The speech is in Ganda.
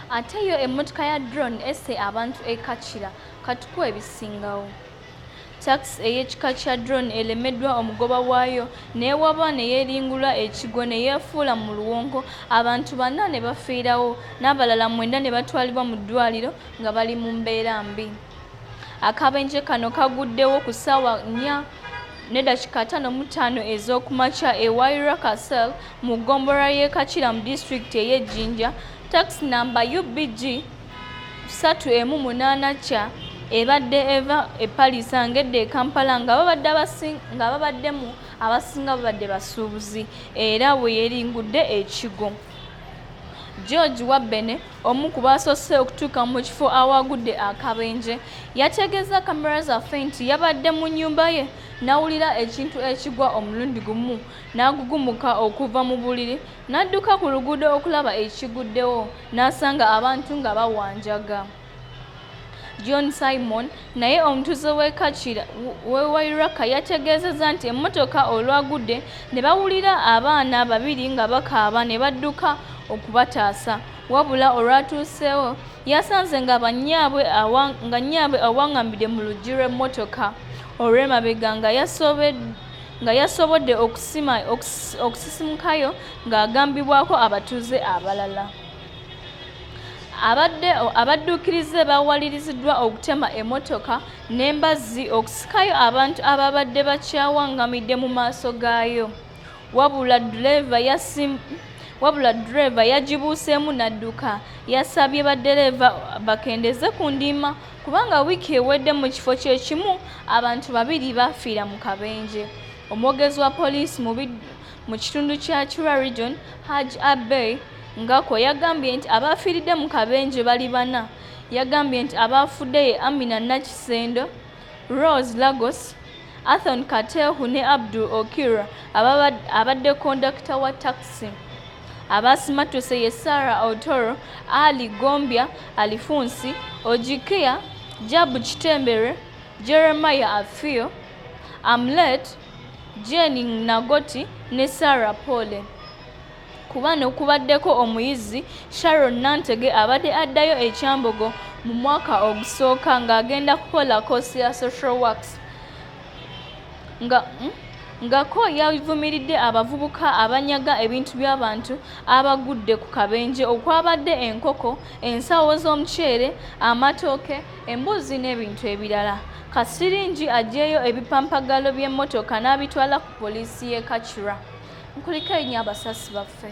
ate yo emmotoka ya drone esse abantu e kacira katukuwa ebisingawo takisi ey'ekika kya drone elemeddwa omugoba waayo n'ewaba ne yeeringula ekigo ne yeefuula mu luwonko abantu bana ne bafiirawo n'abalala mwenda ne batwalibwa mu ddwaliro nga bali mu mbeera mbi akabenje kano kaguddewo ku ssaawa nnya n'eddakiika ttaano mu ttaano ez'okumakya e waira casel mu ggombolola y'e kakira mu disitulikiti ey'e jinja takisi namba ubg satu emu munaana kya ebadde eva e palisa ngedde e kampala nga babadde nga babaddemu abasinga babadde basuubuzi era bwe yeringudde ekigo george wabbene Omu ku baasoose okutuuka mu kifo awaagudde akabenje yategeeza kamera zaffe nti yabadde mu nnyumba ye n'awulira ekintu ekigwa omulundi gumu n'agugumuka okuva mu buliri n'adduka ku luguudo okulaba ekiguddewo n'asanga abantu nga bawanjaga. John Simon naye omutuuze w'e Kakira w'e Wairaka yategeezezza nti emmotoka olwagudde ne bawulira abaana babiri nga bakaaba ne badduka okubataasa wabula olwatuuseewo yasanze nga bannyaabwe nga nnyaabwe awangambidde mu luggi lw'emmotoka olw'emabega nga yasobeddwa nga yasobodde okusisimukayo ng'agambibwako abatuuze abalala abadde abadduukirize bawaliriziddwa okutema emotoka n'embazzi okusikayo abantu ababadde bakyawangamidde mu maaso gaayo wabula duleeva yasim wabula duleeva yagibuuseemu n'adduka yasabye baddereeva bakendeeze ku ndiima kubanga wiiki ewedde mu kifo kye kimu abantu babiri baafiira mu kabenje omwogezi wa poliisi mu kitundu kya Kira Region Haj Abbey Ngako yagambye nti abaafiiridde mu kabenje bali bana. Yagambye nti abaafudde ye Amina Nakisendo, Rose Lagos, Athon Katehu ne Abdul Okira abadde kondakita wa takisi. Abaasimattuse ye Sarah Otoro, Ali Gombya, Alifunsi, Ojikia, Jabu Kitembere, Jeremiah Afio, Amlet, Jane Nagoti ne Sarah Pole. Ku bano kubaddeko omuyizi Sharon Nantege abadde addayo e Kyambogo mu mwaka ogusooka ng'agenda kukola koosi ya social works nga hmm? ngako yavumiridde abavubuka abanyaga ebintu by'abantu abagudde ku kabenje okwabadde enkoko ensawo z'omuceere amatooke embuzzi n'ebintu ebirala. Kasiringi aggyeyo ebipampagalo by'emmotoka n'abitwala ku poliisi y'e Kacura. Mukulikeyo nnyo abasasi baffe.